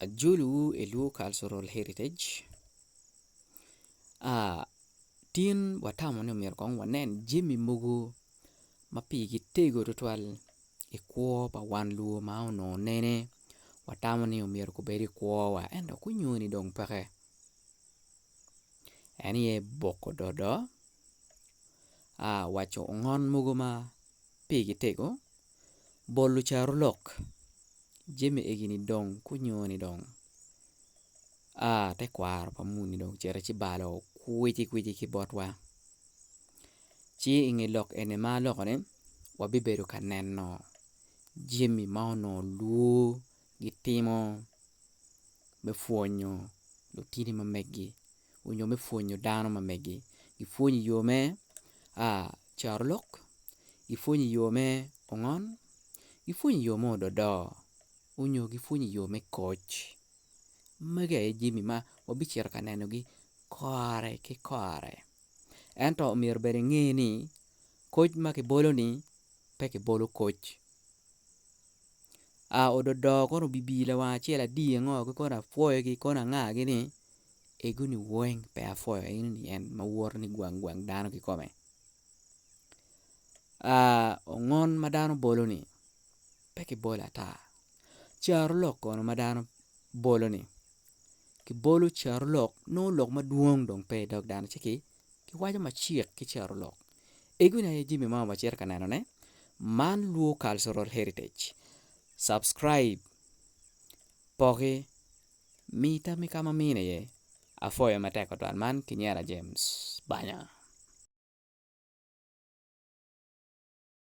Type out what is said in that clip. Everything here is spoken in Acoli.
Ajolowu i Luo Cultural Heritage tin watamo ni myero kong wanen jami mogo ma pigi tego tutwal i kwo pa wan luo ma onongo nene watamo ni myero gubed i kwowa ento kunyoni dong peke en aye boko dodo, waco ngon mogo ma Pi kitego, bol lucarolok jami egini dong kunyo ni dong a tekwaro pa muni dong ocito ci balo kwici kwici ki botwa ci inge lok eni ma alokone wabibedo ka neno jami ma onongo lwor gitimo me pwonyo lutini ma megi. onyo me pwonyo dano ma megi gi pwonyo i yo me carolok gi pwonyo i yo me ongon gi pwonyo i yo me odo do onyo gi pwonyo i yo me koc magi aye jami ma wa bicito ka nenogi kore ki kore ento omyero bene inge ni koc ma ki bolo ni pe ki bolo koc odo do kono obi bii lawang acel adi ngo gi kono apwoyo gi kono anga gi ni egoni weng pe apwoyo in ni en ma woto ni gwang gwang dano kikome ongon ma dano bolo ni pe kibolo ata carolok kono ma dano bolo ni kibolo carolok nongo lok madwong dong pe idog dano ci kiwaco macek ki carolok egoni aye jami ma wacito ka nenone man luo cultural heritage subscribe poki. Mi tammi ka ma amine iye. Apwoyo matek tutwal man ki nyera James Banya.